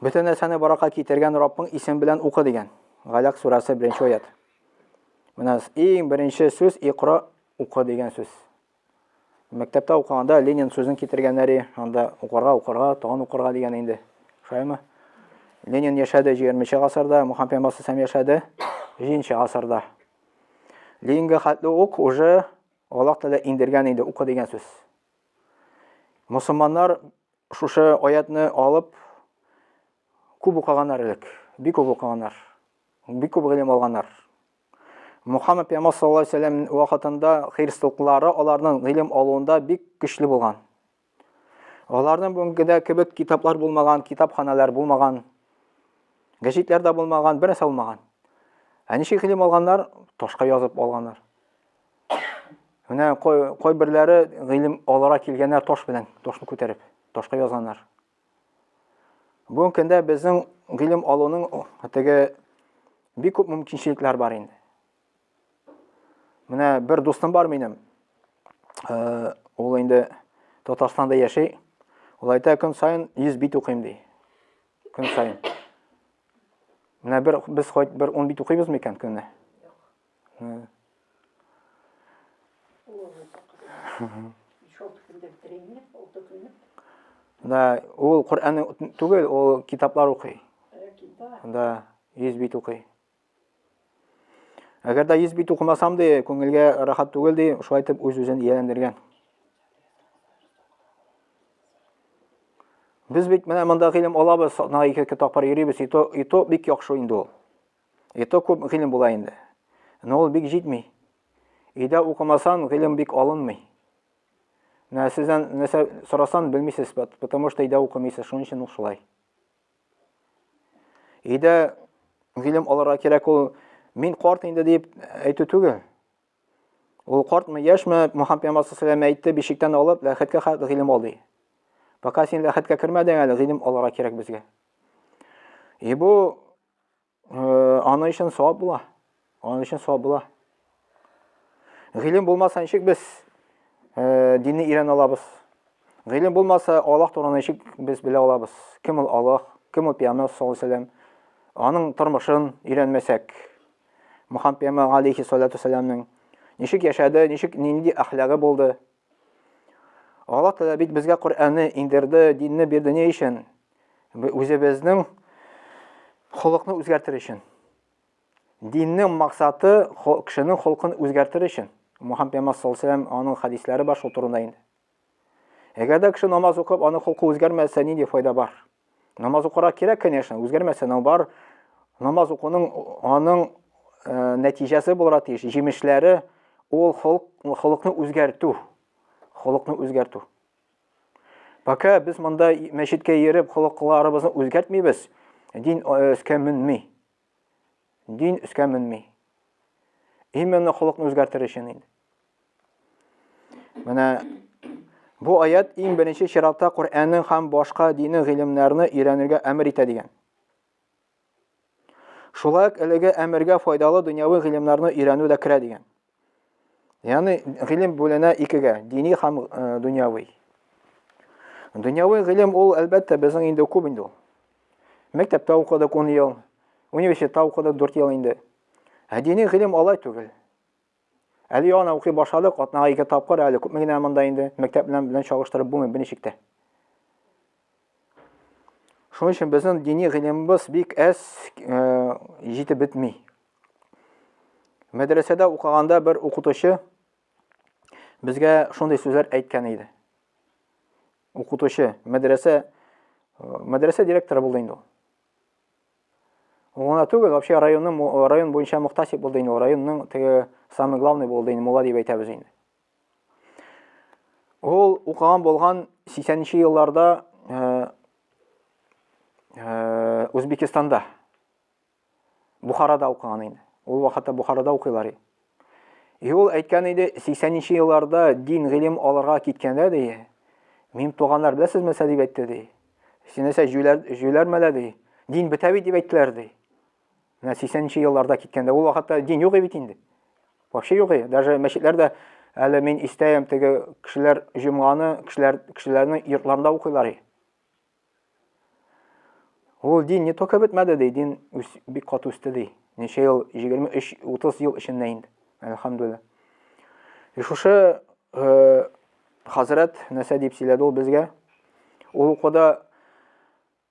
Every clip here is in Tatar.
Бөтен нәрсәне баракка китергән Раббың исем белән укы дигән. Галәк сурәсе 1 аят. Менә иң беренче сүз икра укы дигән сүз. Мәктәптә укыганда Ленин сүзен китергәннәре, анда укырга, укырга, тагын укырга дигән инде. Шулаймы? Ленин яшәде 20-нче гасырда, Мухаммед пәйгамбәр сәм яшәде 1-нче гасырда. Ленинга хәтле ук уже Аллаһ Тәгалә индергән инде укы дигән сүз. Мусулманнар Шушы аятны алып, күп укыганнар элек, бик күп укыганнар, бик күп гыйлем алганнар. Мухаммад пәйгамбәр саллаллаһу алейһи вәсәлләм вакытында христианлары аларның гыйлем алуында бик көчле булган. Аларның бүгенгедә кебек китаплар булмаган, китапханалар булмаган, гәҗитләр дә булмаган, бернәрсә булмаган. Ә ничек гыйлем алганнар? Ташка язып алганнар. Менә кайберләре гыйлем алара килгәннәр таш белән, ташны күтәреп, ташка язганнар. Бүгенге көндә безнең гыйлем алуның теге бик күп мөмкинчелекләр бар инде. Менә бер дустым бар минем. Э, ул инде Татарстанда яши. Ул әйтә, көн сайын 100 бит укыйм ди. Көн сайын. Менә бер без хоть бер 10 бит укыйбыз микән көнне? Да, ул Коръән түгел, ул китаплар укый. Да, йөз бит укый. Әгәр дә йөз бит укымасам ди, күңелгә рахат түгел ди, шулай итеп үз-үзен ияләндергән. Без бит менә монда гыйлем алабыз, сатнага ике-ике тапкыр йөрибез, и то, и то бик яхшы инде ул. И то күп гыйлем була инде. Но ул бик җитми. Өйдә укымасан, гыйлем бик алынмый. Менә сездән нәрсә сорасан, белмисез, потому что өйдә укымыйсыз, шуның өчен ул шулай. Өйдә гыйлем алырга кирәк ул мин карт инде дип әйтү түгел. Ул картмы, яшьме, Мөхәммәд пәйгамбәр саллаллаху алейһи әйтте, бишектән алып, ләхәткә хәтле гыйлем ал ди. Пока син ләхәткә кермәдең әле, гыйлем алырга кирәк безгә. И бу Аны өчен савап була. Аны өчен савап була. Гыйлем булмаса ничек без динне өйрәнә алабыз? Гыйлем булмаса Аллаһ турында ничек без белә алабыз? Кем ул Аллаһ? Кем ул Пәйгамбер саллаллаху алейһи вәсәлләм? Аның тормышын өйрәнмәсәк, Мөхәммәд пәйгамбер алейһи салату вәсәләмнең ничек яшәде, ничек нинди әхлагы булды? Аллаһ Тәгалә бит безгә Коръәнне индерде, динне бирде ни өчен? Үзебезнең холыкны үзгәртер өчен. Диннең максаты кешенең холкын үзгәртер өчен. Мухаммед пәйгамбәр саллаллаху алейһи аның хәдисләре бар шул турында инде. Әгәр дә кеше намаз укып, аның холкы үзгәрмәсә, нинди файда бар? Намаз укырга кирәк, конечно, үзгәрмәсә нау бар. Намаз укуның аның э, нәтиҗәсе булырга тиеш, җимешләре ул холыкны үзгәртү. Холыкны үзгәртү. Пока без монда мәчеткә йөреп, холыкларыбызны үзгәртмибез, дин өскә э, мөнми. Дин өскә менми. Именно холыкны үзгәртер өчен инде. Менә бу аят иң беренче чиратта Коръәннең һәм башка дини гыйлемнәрне өйрәнергә әмер итә дигән. Шулай ук әлеге әмергә файдалы дөньяви гыйлемнәрне өйрәнү дә керә дигән. Яны гыйлем бүленә икегә, дини һәм э, дөньяви. Дөньяви гыйлем ул әлбәттә безнең инде күп инде ул. Мәктәптә укыдык 10 ел, университетта укыдык 4 ел инде. Ә дини гыйлем алай түгел. Әле яна укый башладык, атнага ике тапкыр әле күпме генә монда инде мәктәп белән белән чагыштырып булмый берничектә. Шуның өчен безнең дини гыйлембыз бик әз җитеп бетми. Мәдрәсәдә укыганда бер укытучы безгә шундый сүзләр әйткән иде. Укытучы, мәдрәсә мәдрәсә директоры булды инде ул. Ул гына түгел, вообще районның район буенча мөхтәсиб булды инде ул, районның теге самый главный булды инде, мулла дип әйтәбез инде. Ул укыган булган 80 нче елларда э, э, Үзбекстанда, Бухарада укыган инде. Ул вакытта Бухарада укыйлар. И ул әйткән иде, 80 нче елларда дин гыйлем алырга киткәндә ди, мин туганнар беләсезме нәрсә дип әйтте ди. Синәсә җүләр җүләрмәлә ди. Дин бетә бит дип әйттеләр ди. Менә 80 нче елларда киткәндә ул вакытта дин юк бит инде. Вообще юк. Даже мәчетләр дә әле мин истәем теге кешеләр җомганы кешеләр кешеләрнең йортларында укыйлар. Ул дин не только бетмәде ди, дин бик кат үсте ди. Ничә ел, 23-30 ел эчендә инде. Әлхәмдулилла. И шушы э, хәзрәт нәрсә дип сөйләде ул безгә? Ул укуда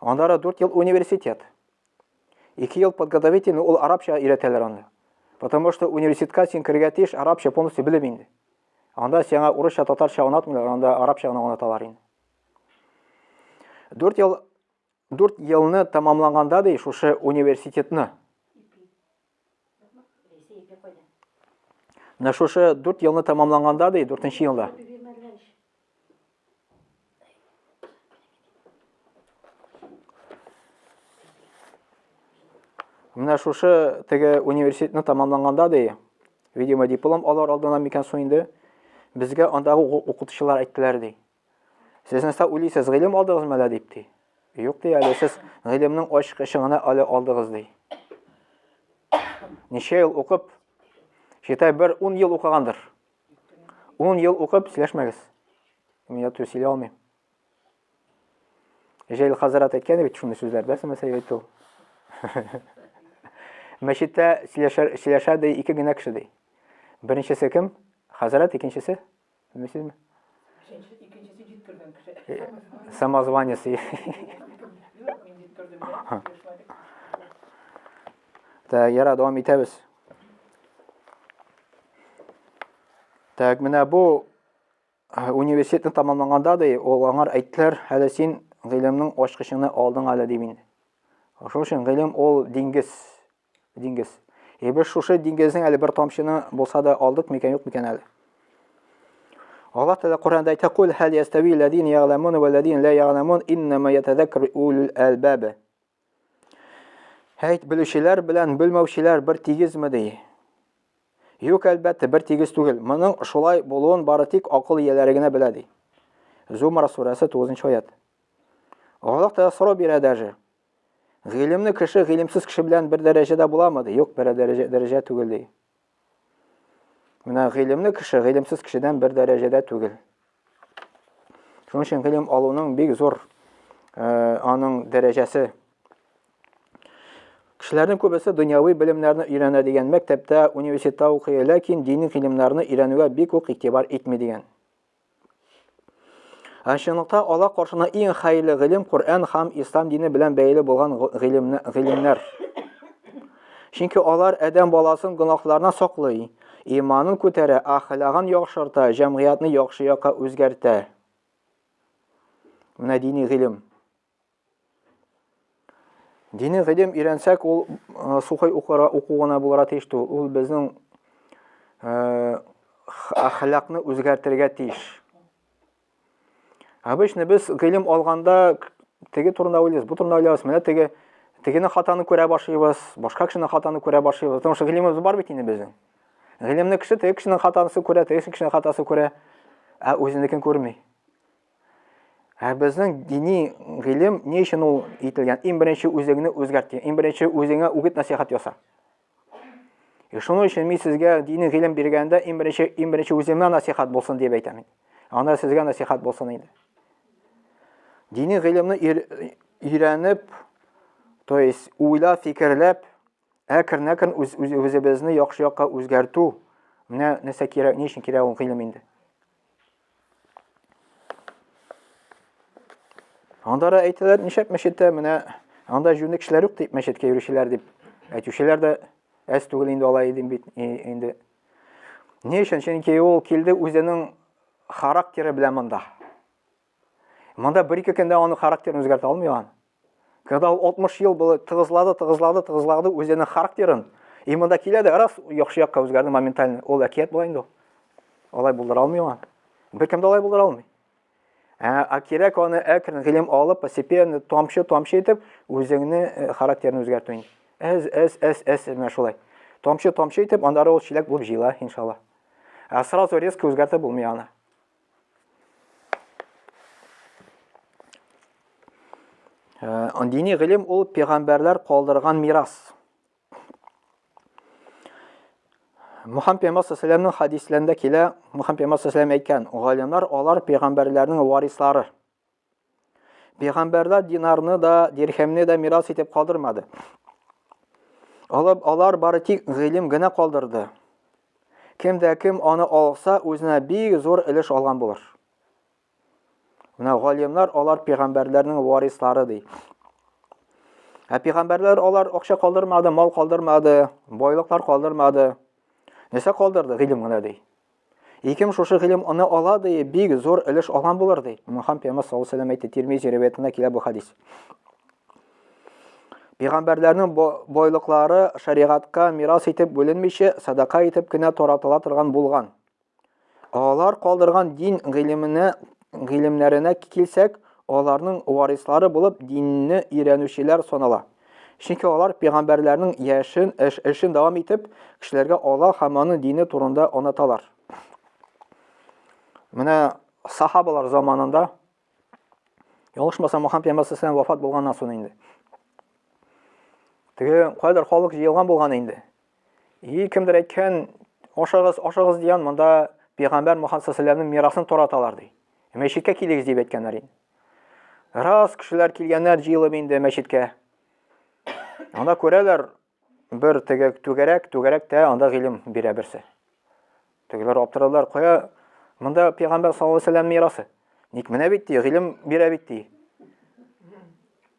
Аннары дүрт ел университет. Ике ел подготовительный, ул арабча өйрәтәләр аны. Потому что университетка син керергә тиеш арабча полностью белеп инде. Анда сиңа урысча, татарча онатмыйлар, анда арабча гына онаталар инде. Дүрт ел дүрт елны тәмамлаганда ди шушы университетны Менә шушы дүрт елны тәмамланганда, ди, дүртенче елда. Менә шушы теге университетны тәмамланганда, ди, видимо, диплом алар алдына микән соң инде, безгә андагы укытучылар әйттеләр, ди. Сез нәрсә уйлыйсыз, гыйлем алдыгызмы әллә дип ди. Юк ди әле, сез гыйлемнең ачкычы гына әле алдыгыз ди. Ничә ел укып, шитай бер 10 ел укыгандыр. 10 ел укып сөйләшмәгез. Мин яту сөйли алмыйм. Җәйл хазрат әйткән бит шундый сүзләр, бәс мәсәл әйтү. Мәчеттә сөйләшә ди ике генә кеше ди. Беренчесе кем? Хазрат, икенчесе? Белмисезме? Икенчесе җиткергән кеше. Э, самозванец. Так, яра, дәвам итәбез. Так, менә бу э, университетны тамамлаганда ди, ул аңар әйттеләр, әле син гыйлемнең ачкычыңны алдың әле ди мин. Шуның өчен гыйлем ул диңгез. Диңгез. Е, без шушы диңгезнең әле бер тамчыны булса да алдык микән, юк микән әле? Аллаһ Тәгалә Коръәндә әйтә: "Кул хәл ястави ләдин ягламун ва ләдин ла ягламун иннама ятазаккар улул албаб". Әйт, белүчеләр белән белмәүчеләр бер тигезме ди? Юк, әлбәттә, бер тигез түгел. Моның шулай булуын бары тик акыл ияләре генә белә ди. Зумар сүрәсе 9 нчы аят. Аллаһ Тәгалә сорау бирә даже. Гыйлемле кеше гыйлемсез кеше белән бер дәрәҗәдә буламы? ди. Юк, бер дәрәҗә, дәрәҗә түгел ди. Менә гыйлемле кеше гыйлемсез кешедән бер дәрәҗәдә түгел. Шуның өчен гыйлем алуның бик зур э, аның дәрәҗәсе. Кешеләрнең күбесе дөньяви белемнәрне өйрәнә дигән мәктәптә, университетта укый, ләкин дини гыйлемнәрне өйрәнүгә бик үк игътибар итми дигән. Ә чынлыкта Аллаһ каршына иң хәерле гыйлем Коръән һәм Ислам дине белән бәйле булган гыйлемнәр. Чөнки алар адәм баласын гөнаһларына саклый, иманын күтәрә, әхлагын яхшырта, җәмгыятьне яхшы якка үзгәртә. Менә дини гыйлем. Дини гыйлем өйрәнсәк, ул э, сухой укура уку гына булырга тиеш түгел. Ул безнең э, әхлакны үзгәртергә тиеш. Обычно без гыйлем алганда теге турында уйлыйбыз, бу турында уйлыйбыз, менә теге тегене хатаны күрә башлыйбыз, башка кешене хатаны күрә башлыйбыз. Потому что гыйлемебез бар бит инде безнең. Гыйлемне кеше теге кешенең хатасын күрә, теге кешенең хатасын күрә, ә үзенекен күрми. Ә безнең дини гыйлем ни өчен ул ителгән? Иң беренче үзеңне үзгәрт. Иң беренче үзеңә үгет насихат яса. И шуның өчен мин сезгә дини гыйлем биргәндә иң беренче иң беренче үземә насихат булсын дип әйтәм инде. Анда сезгә насихат булсын инде. Дини гыйлемне өйрәнеп, то есть уйлап, фикерләп, әкрен-әкрен үз, үз, үзебезне яхшы якка үзгәртү менә нәрсә кирәк ни өчен кирәк ул гыйлем инде анда да әйтәләр нишәп мәчеттә менә анда җүнле кешеләр юк дип мәчеткә йөрүчеләр дип әйтүчеләр дә әз түгел инде алай идем бит инде ни өчен чөнки ул килде үзенең характеры белән монда Монда бер-ике көндә аның характерын үзгәртә алмый ан. Когда ул 60 ел булы тыгызлады, тыгызлады, тыгызлады үзенең характерын, и монда килә дә раз яхшы якка үзгәрде моментально. Ул әкият була инде. Алай булдыра алмый ан. Беркем дә алай булдыра алмый. Ә, ә кирәк аны әкрен гыйлем алып, постепенно, тамчы-тамчы итеп, үзеңне э, характерны үзгәртү инде. Әз, әз, әз, әз, менә шулай. Тамчы-тамчы итеп, аннары ул чиләк булып җыела, иншалла. Ә сразу резко үзгәртә булмый аны. Э, дини гыйлем ул пәйгамбәрләр калдырган мирас. Мухаммед пәйгамбәр саллаллаһу хадисләрендә килә, Мухаммед пәйгамбәр саллаллаһу әйткән, галимнәр алар пәйгамбәрләрнең варислары. Пәйгамбәрләр динарны да, дирхәмне дә мирас итеп калдырмады. Алар, алар бары тик гыйлем генә калдырды. Кем дә кем аны алса, үзенә бик зур өлеш алган булыр. Менә галимнар алар пәйгамбәрләрнең варислары ди. Ә пәйгамбәрләр алар акча калдырмады, мал калдырмады, байлыклар калдырмады. Нәрсә калдырды? Гыйлем генә ди. И кем шушы гыйлем аны ала, ди, бик зур өлеш алган булыр, ди. Мөхәммәд пәйгамбәр саллаллаһу алейһи сәләм әйтте, Тирмизи риваятында килә бу хадис. Пәйгамбәрләрнең байлыклары шәригатькә мирас итеп бүленмичә, садака итеп кенә таратыла торган булган. Алар калдырган дин гыйлеменә, гыйлемнәренә килсәк, аларның варислары булып динне өйрәнүчеләр санала. Чөнки алар пигамбәрләрнең яшен, эш, эшен дәвам итеп, кешеләргә Аллаһ һәм аның дине турында оныталар. Менә сахабалар заманында ялгышмасам Мөхәммәд пәйгамбәр сәлләм вафат булганнан соң инде. Теге кайдыр халык җыелган булган инде. И кемдер әйткән, ашагыз, ашагыз дигән, монда пәйгамбәр Мөхәммәд саллаллаһу мирасын тараталар ди. Мәчеткә килегез дип әйткәннәр инде. Раз кешеләр килгәннәр җыелып инде мәчеткә. Анда күрәләр бер теге түгәрәк, түгәрәктә анда гыйлем бирә берсе. Тегеләр аптырадылар, кая монда пәйгамбәр саллаллаһу алейһи мирасы. Ник менә бит ди, гыйлем бирә бит ди.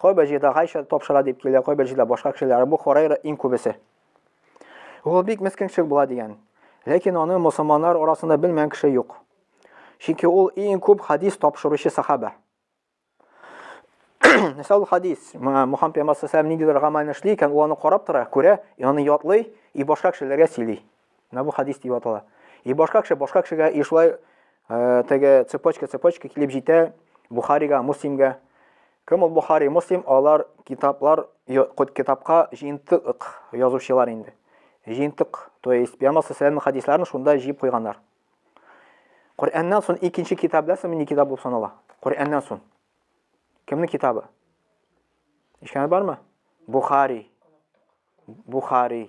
Кайбер җирдә Гайша тапшыра дип килә, кайбер җирдә башка кешеләр, Абу Хурайра иң күбесе. Ул бик мескенчел була дигән. Ләкин аны мусламаннар арасында белмәгән кеше юк. Чөнки ул иң күп хадис тапшыручы сахаба. Нәрсә ул хадис? Мухаммад пәйгамбәр сәлләм ниндидер гамәлне эшли икән, ул аны карап тора, күрә, аны ятлый и башка кешеләргә сөйли. Менә бу хадис дип атала. И башка кеше, башка кешегә и шулай э, теге цепочка, цепочка килеп җитә Бухарига, Муслимга. Кем ул Бухари, Муслим? Алар китаплар, кот китапка җыентык язучылар инде. Җыентык, то есть Пәйгамбер саллаллаху хадисларын шунда җыеп куйганнар. Коръәннән сон икенче китап беләсең, мини китап булып санала. Коръәннән сон. Кемнең китабы? Ишкәне бармы? Бухари. Бухари.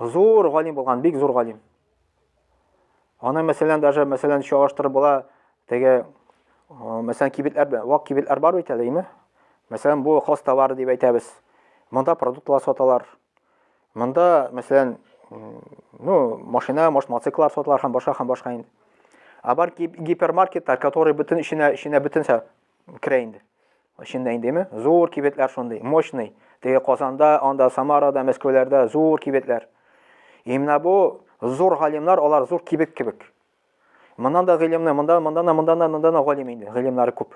Зур галим булган, бик зур галим. Аны мәсәлән даже мәсәлән чагыштырып була, теге мәсәлән кибетләр, вак кибетләр бар бит әле, име? Мәсәлән, бу хос товар дип әйтәбез. Монда продуктлар саталар. Монда, мәсәлән, ну, машина, может, мотоциклар саталар һәм башка һәм башка инде. А бар гипермаркетлар, которые бөтен эченә эченә бөтенсә Керә инде. Эчендә индеме? Зур кибетләр шундый, мощный. Теге Казанда, анда Самарада, Мәскәүләрдә зур кибетләр. И менә бу зур галимнар, алар зур кибет кебек. Моннан да гыйлемне, монда, монда да, монда да, монда да галим инде, гыйлемнәре күп.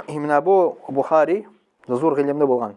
И менә бу Бухари зур гыйлемле булган.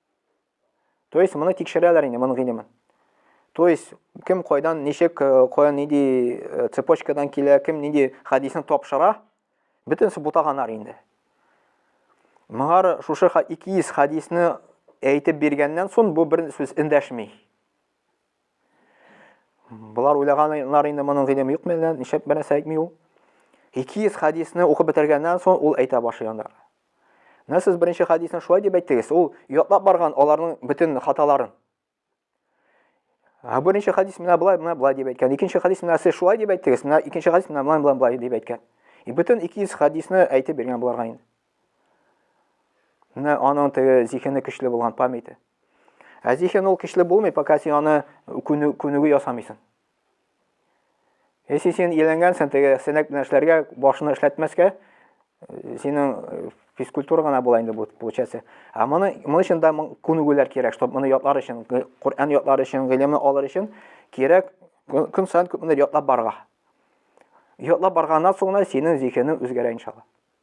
То есть моны тикшерәләр инде, моның гыйлемен. То есть кем кайдан, ничек, э, каян нинди э, цепочкадан килә, кем нинди хәдисне тапшыра, бөтенесе бутаганнар инде. Моңар шушы 200 хәдисне әйтеп биргәннән соң бу бер сүз эндәшми. Болар уйлаганнар инде моның гыйлеме юкмы әллә, нишләп бернәрсә әйтми ул? 200 хәдисне укып бетергәннән соң ул әйтә башлый анда. Менә сез беренче хәдисне шулай дип әйттегез, ул ятлап барган аларның бөтен хаталарын. Ә беренче хәдис менә болай, менә болай дип әйткән. Икенче хәдис менә сез шулай дип әйттегез, менә икенче хәдис менә болай, болай дип әйткән. И бөтен 200 хәдисне әйтеп биргән буларга инде. Менә аның теге зихене көчле булган памяте. Ә зиһен ул көчле булмый, пока син аны күнүге ясамыйсың. Если син ияләнгәнсең теге сәнәк белән эшләргә, башны эшләтмәскә, э, синең э, физкультура гына була инде бу получается. А моны моны өчен дә күнегүләр кирәк, чтобы моны ятлар өчен, Коръән ятлар өчен, гыйлемне алыр өчен кирәк көн саен күпмедер ятлап барга. Ятлап барганнан соң синең зиһенең үзгәрә иншалла.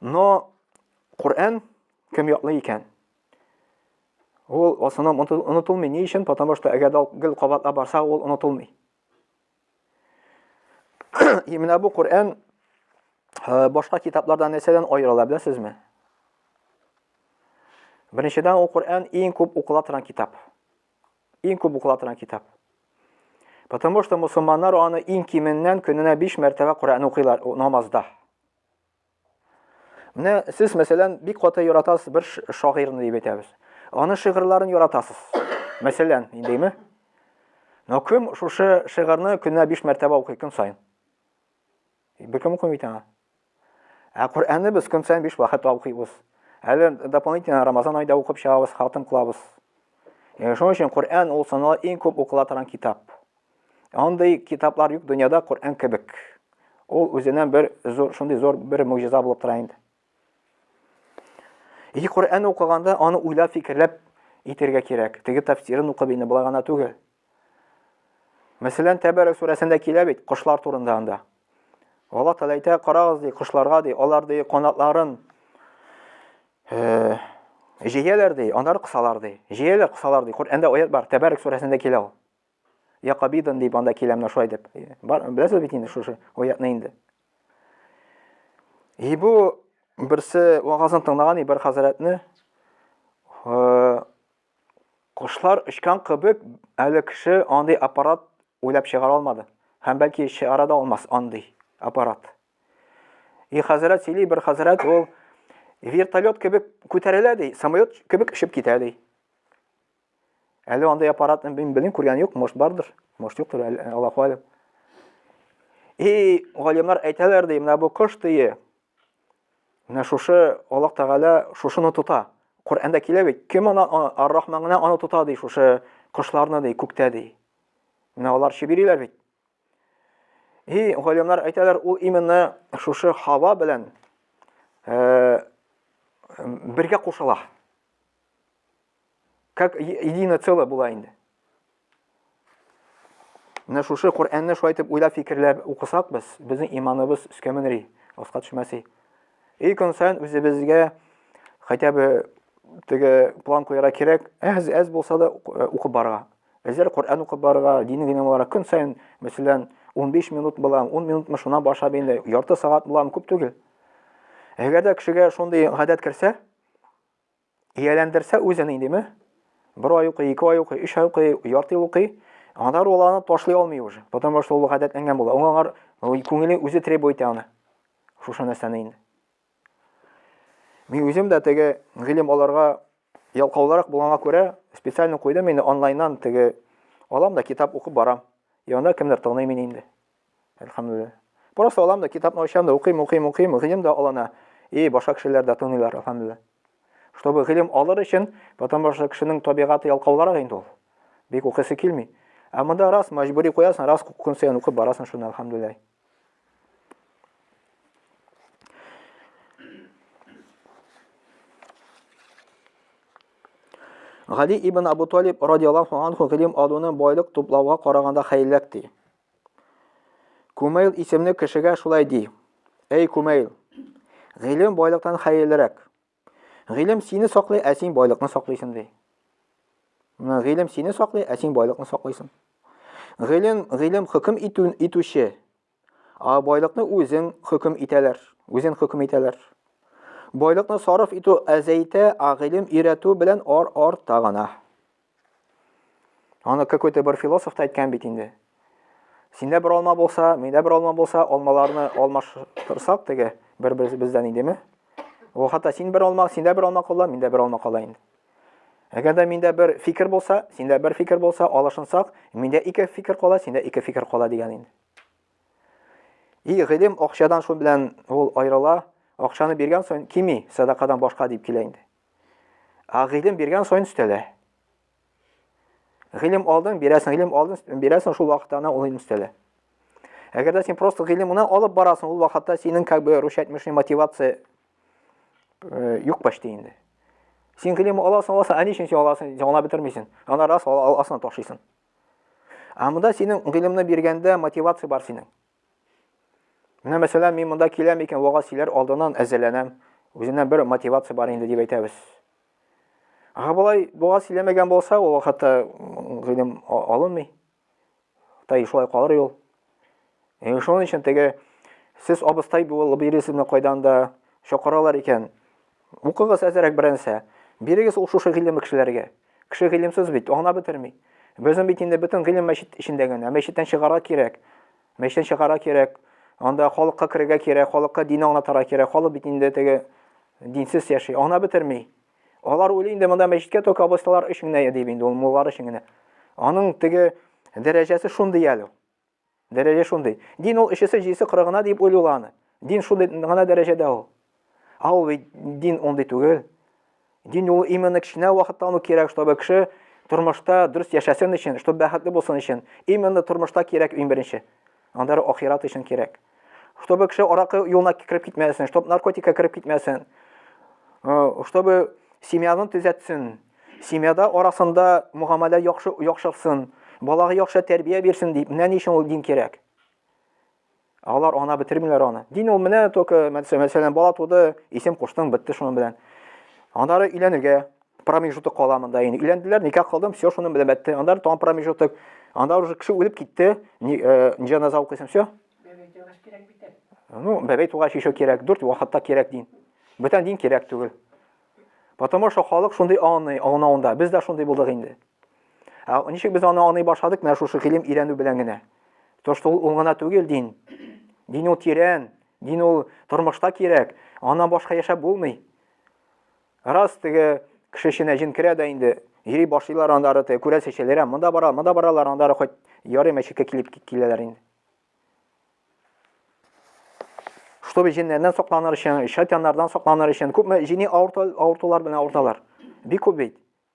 Но Коръән кем яклы икән? Ул в основном онытылмый. Ни өчен? Потому что әгәр дә гел кабатлап барса, ул онытылмый. И менә бу Коръән э, башка китаплардан нәрсәдән аерыла, беләсезме? Беренчедән, ул Коръән иң күп укыла торган китап. Иң күп укыла торган китап. Потому что мусулманнар аны иң кименнән көненә 5 мәртәбә Коръән укыйлар намазда. Менә сез, мәсәлән, бик каты яратасыз бер шагыйрьне дип әйтәбез. Аны шигырьләрен яратасыз. Мәсәлән, индеме? Но кем шушы шигырьне көненә 5 мәртәбә укый көн саен? Беркем укымый бит аңа. Ә Коръәнне без көн саен биш вакытта укыйбыз. Әле дополнительно Рамазан айда укып чыгабыз, хатым кылабыз. Яңа шуның өчен Коръән ул санала иң күп укыла торган китап. Андый китаплар юк дөньяда Коръән кебек. Ул үзеннән бер зур, шундый зур бер мөгъҗиза булып тора инде. И Коръән укыганда аны уйлап фикерләп итергә кирәк. Теге тәфсирен укып инде болай гына түгел. Мәсәлән, Тәбәрәк сүрәсендә килә бит кошлар турында анда. Алла Тәгалә әйтә, карагыз ди кошларга ди, алар ди канатларын э, җәяләр ди, аннары кысалар ди. Җәяләр, кысалар ди. Коръәндә аят бар, Тәбәрәк сүрәсендә килә ул. Якобидан дип анда киләм, шулай дип. Бар, беләсез бит инде шушы аятны инде. И бу берсе вагазын тыңлаган и бер хәзрәтне кошлар очкан кебек әле кеше андый аппарат уйлап чыгара алмады. Һәм бәлки чыгара да алмас андый аппарат. И хәзрәт сөйли, бер хәзрәт ул вертолет кебек күтәрелә ди, самолет кебек очып китә ди. Әле андый аппаратны мин белмим, күргән юк, может бардыр, может юктыр, Аллаһу алим. И галимнар әйтәләр ди, менә бу кош дие. Менә шушы Аллаһ Тәгалә шушыны тота. Коръәндә килә бит, кем аны Ар-Рахман гына аны тота ди, шушы кошларны ди, күктә ди. Менә алар чибириләр бит. И галимнар әйтәләр, ул именно шушы хава белән э бергә кушыла. Как единое целое була инде. Менә шушы Коръәнне шулай итеп уйлап фикерләп укысак без, безнең иманыбыз өскә менри, аска төшмәси. И көн саен үзебезгә хотя бы теге план куярга кирәк, әз әз булса да э, укып барырга. Әзер Коръән укып барырга, дини генә буларак көн саен, мәсәлән, 15 минут булам, 10 минутмы шуннан башлап инде, ярты сәгать булам, күп түгел. Әгәр дә кешегә шундый гадәт керсә, ияләндерсә үзен идеме, бер ай укый, ике ай укый, өч ай укый, ярты ел укый, аңа ул аны ташлый алмый уже, потому что ул гадәтләнгән була. Аңа аңар күңеле үзе требует итә аны. Шушы нәрсәне инде. Мин үзем дә теге гыйлем аларга ялкаулырак булганга күрә, специально куйдым инде онлайннан теге алам да китап укып барам. Янда кемдер тыңлый мин инде. Әлхәмдулилла. Просто алам да, китапны ачам да, укыйм, укыйм, укыйм, гыйлем дә алына. И, башка кешеләр дә тыңлыйлар, әлхәмдулилла. Чтобы гыйлем алыр өчен, потому что кешенең табигаты ялкаулырак инде ул. Бик укысы килми. Ә монда раз мәҗбүри куясың, раз көн саен укып барасың шуны, әлхәмдулилла. Гали ибн Абу Талиб радиаллаху анху гыйлем алуны байлык туплауга караганда хәерлерәк ди. Кумейл исемле кешегә шулай ди. Әй, Кумейл, гыйлем байлыктан хәерлерәк. Гыйлем сине саклый, ә син байлыкны саклыйсың, ди. Менә гыйлем сине саклый, ә син байлыкны саклыйсың. Гыйлем, гыйлем хөкем итү, итүче, а байлыкны үзең хөкем итәләр, үзен хөкем итәләр. Байлыкны сарыф итү әзәйтә, а гыйлем өйрәтү белән ар арта гына. Аны какой-то бер философ та әйткән бит инде. Синдә бер алма булса, миндә бер алма булса, алмаларны алмаштырсак теге бер бездән идеме? Ул хәтта син бер алма, синдә бер алма кала, миндә бер алма кала инде. Әгәр дә миндә бер фикер булса, синдә бер фикер булса, алышынсак, миндә ике фикер кала, синдә ике фикер кала дигән инде. И гыйлем акчадан шул белән ул аерыла, акчаны биргән соң кими, садакадан башка дип килә инде. Ә гыйлем биргән саен өстәлә. Гыйлем алдың, бирәсең, гыйлем алдың, бирәсең, шул вакытта ана ул гыйлем өстәлә. Әгәр дә син просто гыйлем гына алып барасың, ул вакытта синең как бы рушатмешный мотивация э, юк почти инде. Син гыйлем аласың, аласың, ә ни өчен син аласың, аңлап бетермисең. Ана раз аласың, ташыйсың. Ә монда синең гыйлемне биргәндә мотивация бар синең. Менә мәсәлән, мин монда киләм икән, вагаз сөйләр алдыннан әзерләнәм. Үзеннән бер мотивация бар инде дип әйтәбез. Ага болай вагаз сөйләмәгән булса, ул вакытта гыйлем алынмый. Тай шулай калыр юл. Э, шуның өчен теге сез абыстай булып йөрисезме кайдан да чакыралар икән. Укыгыз әзерәк бернәрсә. Бирегез ул шушы гыйлемле кешеләргә. Кеше гыйлемсез бит, аңлап бетерми. Безнең бит инде бөтен гыйлем мәчет эчендә генә. Мәчеттән чыгарга кирәк. Мәчеттән чыгарга кирәк. Анда халыкка керергә кирәк, халыкка дин аңлатырга кирәк. Халык бит инде теге динсез яши, аңлап бетерми. Алар уйлый инде монда мәчеткә только абысталар өчен генә дип инде ул муллар өчен генә. Аның теге дәрәҗәсе шундый әле. Дәрәҗә шундый. Дин ул өчесе-җидесе кыры гына диеп уйлый ул аны. Дин шундый гына дәрәҗәдә ул. Ә ул бит дин ундый түгел. Дин ул именно кечкенә вакыттан ук кирәк, чтобы кеше тормышта дөрес яшәсен өчен, чтобы бәхетле булсын өчен. Именно тормышта кирәк иң беренче. Аннары ахират өчен кирәк. чтобы кеше аракы юлына кереп китмәсен, чтобы наркотикка кереп китмәсен, э, чтобы семьяны төзәтсен, семьяда арасында мөгамәлә яхшы яхшырсын, балага яхшы тәрбия бирсен дип, менә ни өчен ул дин кирәк. Алар ана бетермиләр аны. Дин ул менә только мәсәлән бала туды, исем куштың, бетте шуның белән. Аннары өйләнергә, промежуток кала монда инде өйләнделәр никах кылдым все шуны белән бәтте анда тагын промежуток анда уже кеше үлеп китте э, җаназа укыйсың все ну бәбәй тугач еще кирәк дүрт вакытта кирәк дин бөтен дин кирәк түгел потому что халык шундый аңлый аңлавында без дә шундый булдык инде ә ничек без аны аңлый башладык менә шушы гыйлем өйрәнү белән генә то что ул гына түгел дин дин ул тирән дин ул тормышта кирәк аннан башка яшәп булмый Раз теге кеше эченә җен керә дә инде, йөри башлыйлар андары теге күрәсе шәләрә, монда бара, монда баралар, андары хоть ярый мәчеткә килеп киләләр инде. Чтобы җиннәрдән сакланыр өчен, шайтаннардан сакланыр өчен күпме җини авыртулар белән авырталар. Бик күп бит.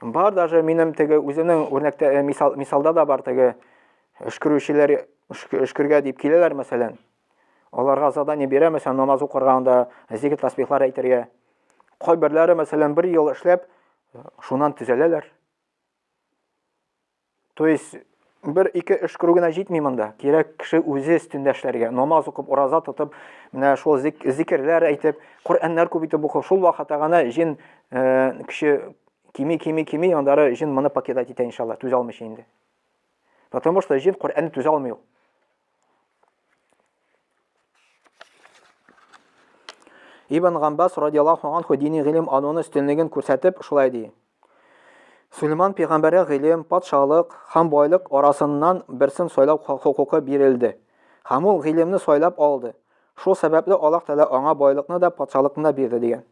Бар даже минем теге үзенең үрнәктә э, мисал, мисалда да бар теге өшкерүчеләр өшкергә дип киләләр мәсәлән. Аларга задание бирә мәсәлән намаз укырга анда зикр тасбихлар әйтергә. Кайберләре мәсәлән бер ел эшләп шуннан төзәләләр. То есть бер-ике эш күрү генә җитми монда. Кирәк кеше үзе өстендә эшләргә. Намаз укып, ураза тотып, менә шул зик зикерләр әйтеп, Коръәннәр күп итеп укып, шул вакытта гына җен э, кеше кими, кими, кими, андары җен моны покидать итә иншалла, түзә алмыйча инде. Потому что җен Коръәнне түзә алмый ул. Ибн Гамбас радиаллаху анху дини гыйлем алуны өстенлеген күрсәтеп шулай ди. Сулейман пәйгамбәргә гыйлем, патшалык һәм байлык арасыннан берсен сайлау хокукы бирелде. Һәм ул гыйлемне сайлап алды. Шул сәбәпле Аллаһ Тәгалә аңа байлыкны да, патшалыкны да бирде дигән.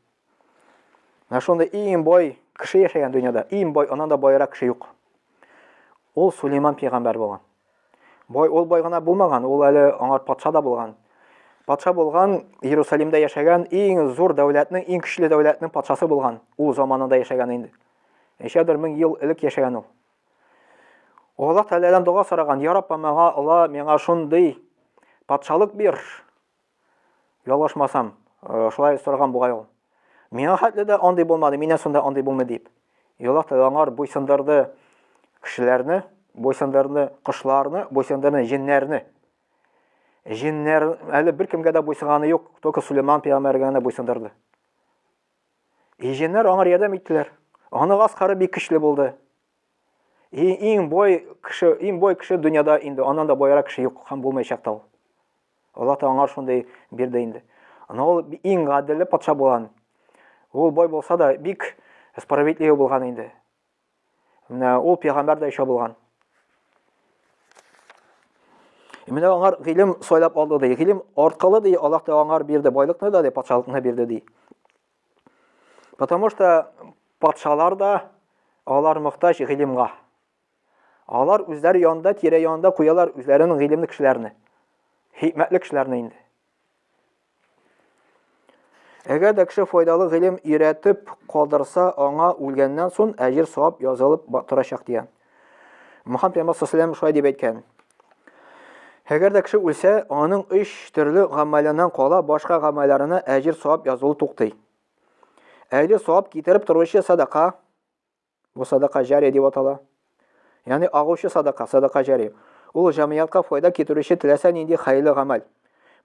Менә шундый иң бай кеше яшәгән дөньяда, иң бай, аннан да байрак кеше юк. Ул Сулейман пәйгамбәр булган. Бай ул бай гына булмаган, ул әле аңар патша да булган. Патша булган, Иерусалимдә яшәгән иң зур дәүләтнең, иң көчле дәүләтнең патшасы булган. Ул заманында яшәгән инде. Ничәдер мең ел элек яшәгән ул. Аллаһ Тәгаләдән дога сораган, "Я Раббым, миңа Алла, миңа шундый патшалык бир, Ялгышмасам, э, шулай сораган бугай ул. Миңа хәтле дә андый булмады, миннән сонда андый булмый дип. Елак та аңар буйсындырды кешеләрне, буйсындырды кошларны, буйсындырды җеннәрне. Җеннәр әле бер кемгә дә буйсынганы юк, только Сулейман пәйгамбәргә генә буйсындырды. И җеннәр аңар ярдәм иттеләр. Аны гаскары бик көчле булды. И иң бой кеше, иң бой кеше дөньяда инде, аннан да боярак кеше юк һәм булмаячак та ул. Аллаһ та аңар шундый бирде инде. Ана ул иң гаделле патша булган. Ул бай булса да, бик справедливый булган инде. Менә ул пәйгамбәр дә ишә булган. Менә аңар гыйлем сайлап алды ди. Гыйлем аркылы ди Аллаһ та аңар бирде, байлыкны да ди, патшалыкны бирде ди. Потому что патшалар да алар мохтаҗ гыйлемга. Алар үзләре янында, тирә-янында куялар үзләренең гыйлемле кешеләрне, хикмәтле кешеләрне инде. Әгәр дә кеше файдалы гыйлем өйрәтеп калдырса, аңа үлгәннән сон әҗер савап язылып торачак дигән. Мөхәммәд пәйгамбәр саллаллаху шулай дип әйткән. Әгәр дә кеше үлсә, аның өч төрле гамәленнән кала, башка гамәлләренә әҗер савап язылу туктый. Әҗер савап китереп торучы садака, Бу садака җария дип атала. Ягъни агучы садака, садака җария. Ул җәмгыятькә файда китерүче теләсә нинди хәерле гамәл.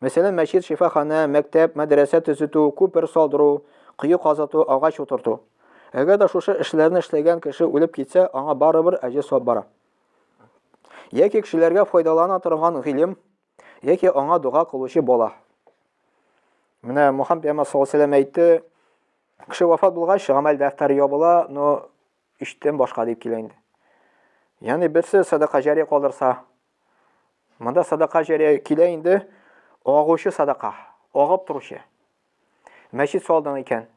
Мәсәлән, мәчет, шифаханә, мәктәп, мәдрәсә төзетү, күпер салдыру, кое казыту, агач утырту. Әгәр дә шушы эшләрне эшләгән кеше үлеп китсә, аңа барыбер әҗер-савап бара. Яки кешеләргә файдалана торган гыйлем, Яки аңа дога кылучы бала. Менә Мухаммед пәйгамбәр саллаллаһу алейһи әйтте, кеше вафат булгач, гамәл дәфтәре ябыла, но өчтән башка дип килә инде. Ягъни берсе садака җария калдырса, монда садака җария килә инде, агучы садака, агып торучы. Мәчет салдың икән.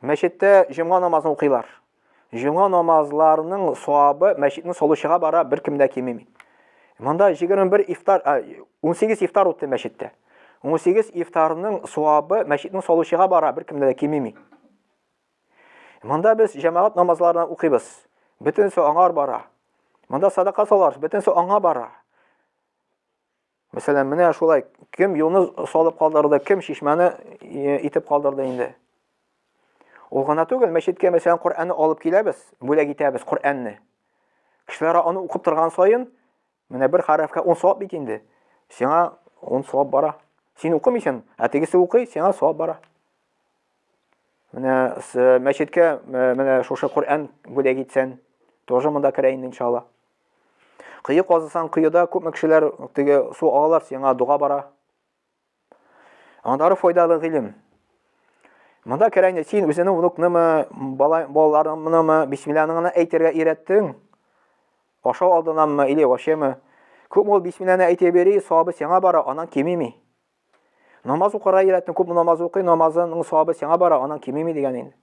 Мәчеттә җомга намазын укыйлар. Җомга намазларының савабы мәчетне салучыга бара, беркем дә кимеми. Монда 21 ифтар, 18 ифтар үтте мәчеттә. 18 ифтарның савабы мәчетне салучыга бара, беркем дә кимеми. Монда без җәмәгать намазларына укыйбыз. Бөтенесе аңар бара. Монда садака салар, бөтенесе аңа бара. Мәсәлән, менә шулай, кем юлны салып калдырды, кем чишмәне э, итеп калдырды инде. Ул гына түгел, мәчеткә мәсәлән Коръәнне алып киләбез, бүләк итәбез Коръәнне. Кешеләр аны укып торган саен, менә бер хәрефкә 10 савап бит инде. Сиңа 10 савап бара. Син укымыйсың, ә тегесе укый, сиңа савап бара. Менә мәчеткә менә шушы Коръән бүләк итсән, тоже монда керә инде иншалла. Кое казысан, коеда күпме кешеләр теге су алалар, сиңа дога бара. Аннары файдалы гыйлем. Монда керә инде син үзеңнең внукнымы, балаларыңнымы, бисмиллаһыңны әйтергә өйрәттең? Ашау алдынамы или вачеме? Күп ул бисмилланы әйтеп йөри, сабы сиңа бара, анан кимеми. Намаз укырга өйрәтте, күп намаз укый, намазының савабы сиңа бара, аның кимеми дигән инде.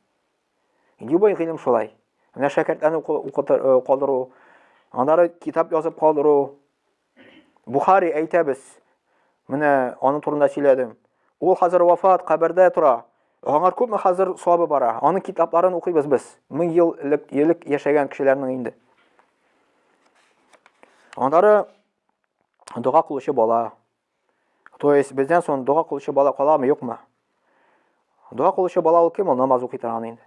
Любой гыйлем шулай. Менә шәкертләрне э, калдыру, аннары китап язып калдыру. Бухари әйтәбез. Менә аның турында сөйләдем. Ул хәзер вафат, кабердә тора. Аңар күпме хәзер савабы бара? Аның китапларын укыйбыз без. Мең ел элек, элек яшәгән кешеләрнең инде. Аннары дога кылучы бала, То есть бездән соң дога кылучы бала каламы, юкмы? Дога кылучы бала ул кем? Ул намаз укый торган инде.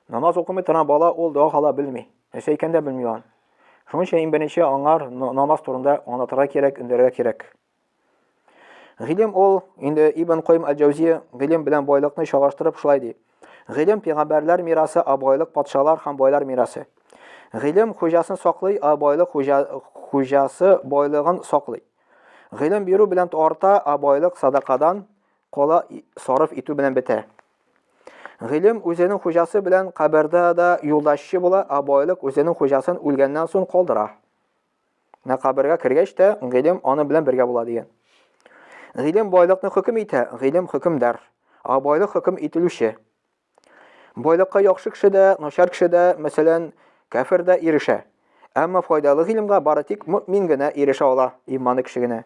Намаз укымый торган бала ул дога кала белми. Нәрсә икән дә белми ан. Шуның өчен иң беренче аңар намаз турында аңлатырга кирәк, өндерергә кирәк. Гыйлем ул инде Ибн Кайм аль-Җаузия гыйлем белән байлыкны чагыштырып шулай ди. Гыйлем пигамбәрләр мирасы, а байлык патшалар һәм байлар мирасы. Гыйлем хуҗасын саклый, а байлык хуҗасы байлыгын саклый. Гыйлем бирү белән арта, ә байлык садакадан кала сарыф итү белән бетә. Гыйлем үзенең хуҗасы белән кабердә дә юлдашчы була, ә байлык үзенең хуҗасын үлгәннән соң калдыра. Менә кабергә кергәч тә гыйлем аны белән бергә була дигән. Гыйлем байлыкны хөкем итә, гыйлем хөкемдар, ә байлык хөкем ителүче. Байлыкка яхшы кеше дә, начар кеше дә, мәсәлән, кәфер дә ирешә. Әмма файдалы гыйлемгә бары тик мөэмин генә ирешә ала, иманы кеше генә.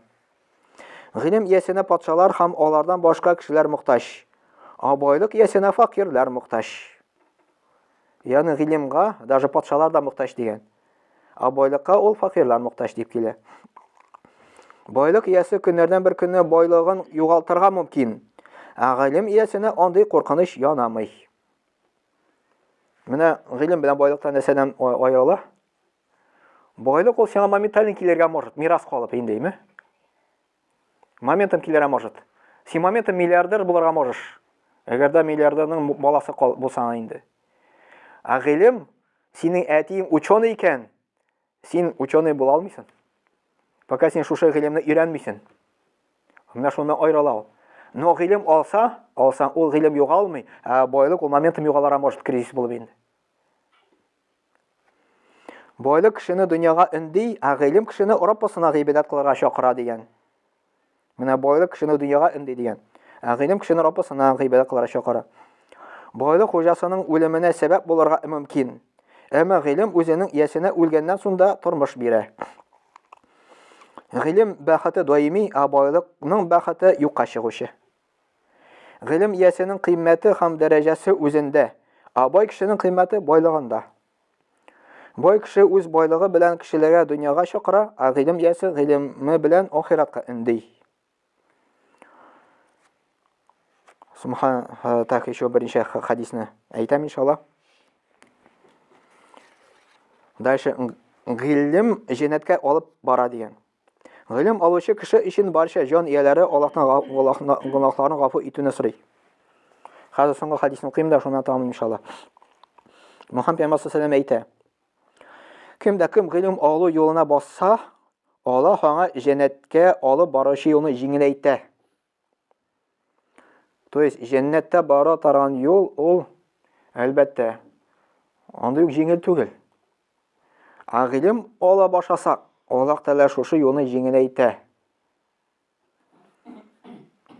Гыйлем иясенә патшалар һәм алардан башка кешеләр мохтаҗ, а байлык иясенә факирләр мохтаҗ. Ягъни гыйлемгә даже патшалар да мохтаҗ дигән. Ә байлыкка ул факирлар мохтаҗ дип килә. Байлык иясе көннәрдән бер көнне байлыгын югалтырга мөмкин. Ә гыйлем иясенә андый куркыныч янамый. Менә гыйлем белән байлыктан нәрсәдән аерыла? Байлык ул сиңа моментально килергә может, мирас калып индейме? Моментом килер, может. Син моментом миллиардер булырга можешь. Әгәр дә миллиардерның баласы булсаң инде. Ә гыйлем, синең әтиең ученый икән, син ученый була алмыйсың. Пока син шушы гыйлемне өйрәнмисең. Менә шуны айралау. Но гыйлем алса, алсаң, ул гыйлем югалмый, ә байлык ул моментом югалырга может кризис булып инде. Байлык кешене дөньяга өнди, ә гыйлем кешене Раппасына гыйбадәт кылырга чакыра дигән. Менә байлык кешене дөньяга өнди дигән. Ә гыйлем кешене Раппасына гыйбадәт кылырга чакыра. Байлык хуҗасының үлеменә сәбәп булырга мөмкин. Әмма гыйлем үзенең иясенә үлгәннән сунда тормыш бирә. Гыйлем бәхете даими, ә байлыкның бәхете юкка чыгучы. Гыйлем иясенең кыйммәте һәм дәрәҗәсе үзендә, ә бай кешенең кыйммәте байлыгында. Бай кеше үз байлыгы белән кешеләргә дөньяга чакыра, ә гыйлем иясе гыйлеме белән ахиратка өнди. Субхан так еще берничә хадисны әйтәм иншалла. Дальше гыйлем җеннәткә алып бара дигән. Гыйлем алучы кеше өчен барча җан ияләре Аллаһтан гөнаһларын гафу итүне сорый. Хәзер соңгы хәдисне укыйм да, шуннан тәмам иншалла. Мөхәммәд пәйгамбәр саллаллаху алейһи әйтә. Кем дә кем гыйлем алу юлына басса, Аллаһ аңа җәннәткә алып баручы юлны җиңеләйтә. То есть җәннәткә бара торган юл ул әлбәттә андый ук җиңел түгел. Ә гыйлем ала башласак, Аллаһ Тәгалә шушы юлны җиңеләйтә.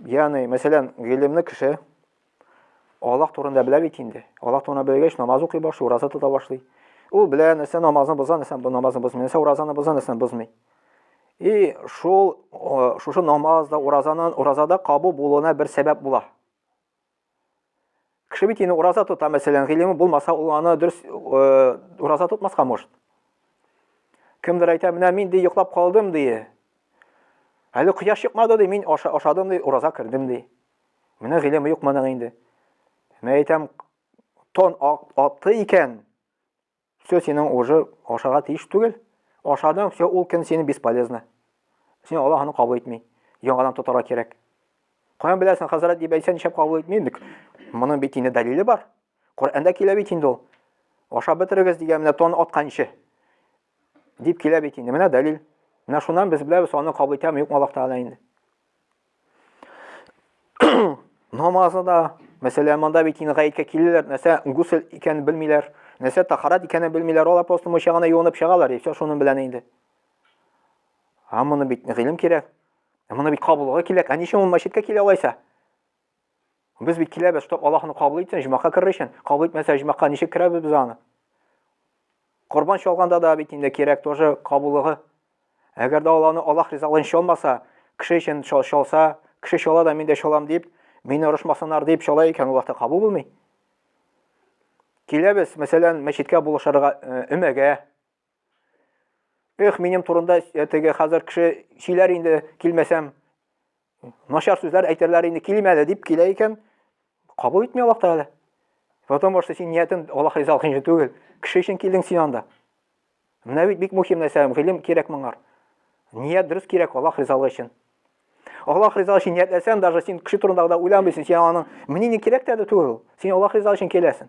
Ягъни, мәсәлән, гыйлемле кеше Аллаһ турында белә бит инде. Аллаһ турында белгәч, намаз укый башлый, ураза тота башлый. Ул белә, нәрсә намазны боза, нәрсә намазны бозмый, нәрсә уразаны боза, нәрсә бозмый. И шул шушы намаз да, уразаны, уразада кабул булуына бер сәбәп була. Кеше бит инде ураза тота, мәсәлән, гыйлеме булмаса, ул аны дөрес ураза тотмаска может. Кемдер әйтә, менә мин ди йоклап калдым ди. Әле кояш чыкмады ди, мин ашадым ди, ураза кердем ди. Менә гыйлеме юк моның инде. Мә әйтәм, тон атты икән, все синең уже ашага тиеш түгел. Ашадың, все, ул көн синең бесполезно. Син Аллаһ аны кабул итми. Яңадан тотарга кирәк. Каян беләсең, хәзрәт дип әйтсә, нишләп кабул итми? Моның бит инде дәлиле бар. Коръәндә килә бит инде ул. Ашап бетерегез дигән менә тон атканчы. Дип килә бит инде. Менә дәлил. Менә шуннан без беләбез, аны кабул итәме, юкмы Аллаһ Тәгалә инде. Намазы да, мәсәлән, монда бит инде гаеткә киләләр, нәрсә гусел икәнен белмиләр, нәрсә тахарат икәнен белмиләр, алар просто мунча гына юынып чыгалар, и все, шуның белән инде. Ә моны бит гыйлем кирәк. Ә моны бит кабулга кирәк. Ә ничә ул мәчеткә килә алайса? Без бит киләбез, чтоб Аллаһ аны кабул итсен, җимакка керер өчен. Кабул итмәсә, җимакка ничек керәбез без аны? Корбан чалганда да бит инде кирәк тоже кабулыгы. Әгәр дә Аллаһны Аллаһ ризалыгын чалмаса, кеше өчен чалса, кеше чала да мин дә чалам дип, мине орышмасыннар дип чала икән, Аллаһ та кабул булмый. Киләбез, мәсәлән, мәчеткә булышырга өмәгә, Эх, минем турында э, теге хәзер кеше сөйләр инде, килмәсәм, начар сүзләр әйтерләр инде, килим әле дип килә икән, кабул итми Аллаһ Тәгалә. Потому что син ниятен Аллаһ ризалыгы өчен түгел, кеше өчен килдең син анда. Менә бит бик мөһим нәрсә, гыйлем кирәк моңар. Ният дөрес кирәк Аллаһ ризалыгы өчен. Аллаһ ризалыгы өчен ниятләсәң, даже син кеше турында да уйламыйсың, син аның менә ни кирәк тә түгел. Син Аллаһ ризалыгы өчен киләсең.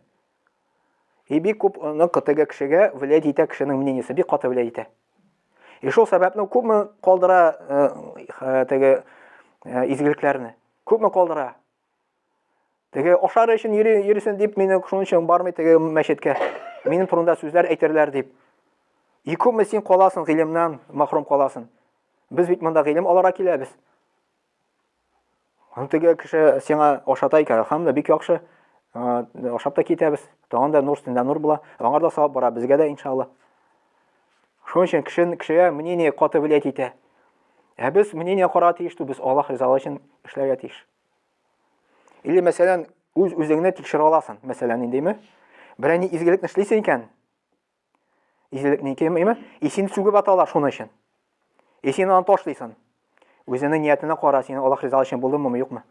И бик күп ны кытыгы кешегә влиять итә кешенең мнениесе, бик каты влиять итә. И шул сәбәпне күпме калдыра э, э, теге э, изгелекләрне. Күпме калдыра. Теге ашар өчен йөрисен дип мине шуның өчен бармый теге мәчеткә. Минем турында сүзләр әйтерләр дип. И күпме син каласың гыйлемнән, мәхрүм каласың. Без бит монда гыйлем алара киләбез. Теге кеше сиңа ашата икән, хәмле бик яхшы. Ашап та китәбез. Тагын да нур өстендә нур була. Аңар да савап бара, безгә дә иншалла. Шуның өчен кешен, кешегә мнение каты влиять итә. Ә без мнение карарга тиеш тү, без Аллаһ ризалыгы өчен эшләргә тиеш. Или мәсәлән, үз-үзеңне тикшерә аласың. Мәсәлән, ниндиме? Берәни изгелекне эшлисең икән, Изелекне ике имя, исин сүгеп аталар шуны өчен. Исин аны ташлыйсын. Үзенең ниятенә кара, син Аллаһ риза өчен булдымы, ме юкмы?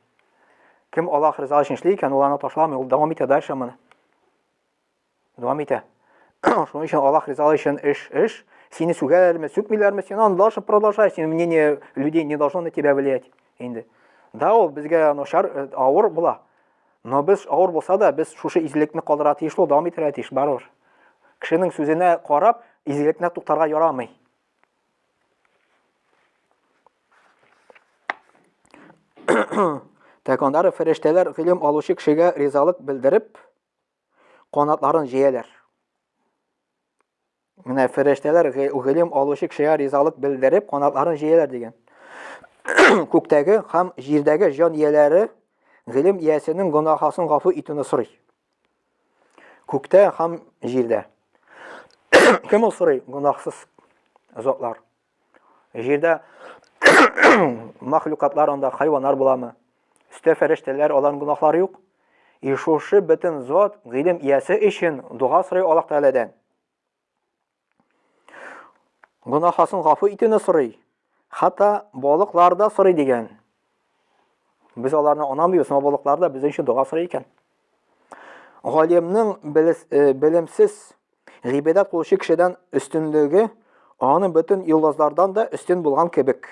Кем Аллаһ риза өчен эшли икән, ул аны ташламый, ул дәвам итә дальше моны. Дәвам итә. Шуның өчен Аллаһ риза өчен эш, эш. Сине сүгәләрме, сүкмиләрме, син аны дальше продолжай, син мнение людей не должно на тебя влиять. Инде. Да, ул безгә начар, э, авыр була. Но без, авыр булса да, без шушы изгелекне калдырырга тиеш ул, дәвам итәргә тиеш, барыбер. Кешенең сүзенә карап, изгелекне туктарга ярамый. Так, аннары фәрештәләр гыйлем алучы кешегә ризалык белдереп, канатларын җәяләр. Менә фәрештәләр гыйлем алучы кешегә ризалык белдереп, канатларын җәяләр дигән. Күктәге һәм җирдәге җан ияләре гыйлем иясенең гөнаһасын гафу итүне сорый. Күктә һәм җирдә. Кем ул сорый? Гөнаһсыз затлар. Җирдә махлюкатлар анда хайваннар буламы? Өстә фәрештәләр, аларның гөнаһлары юк. И шушы бөтен зат гыйлем иясе өчен дога сорый Аллаһ Тәгаләдән. Гөнаһасын гафу итүне сорый. Хәтта балыклар да сорый дигән. Без аларны анамыйбыз, но балыклар да безнең өчен дога сорый икән. Галимның э, белемсез гыйбадәт кылучы кешедән өстенлеге аның бөтен юллазлардан да өстен булган кебек.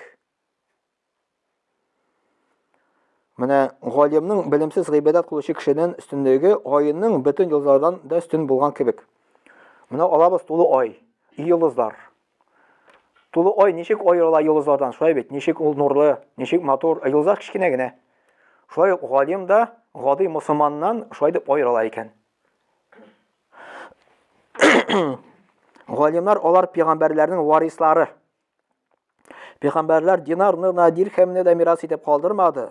Менә галимның белемсез гыйбадәт кылучы кешедән өстенлеге айының бөтен юллардан да өстен булган кебек. Менә алабыз тулы ай, и юллазлар. Тулы ай ничек аерыла йолдызлардан? Шулай бит, ничек ул нурлы, ничек матур, ә йолдызлар кечкенә генә. Шулай ук галим да гади мусулманнан шулай дип аерыла икән. Галимнар алар пигамбәрләрнең варислары. Пигамбәрләр динарны да, дирхәмне дә мирас итеп калдырмады.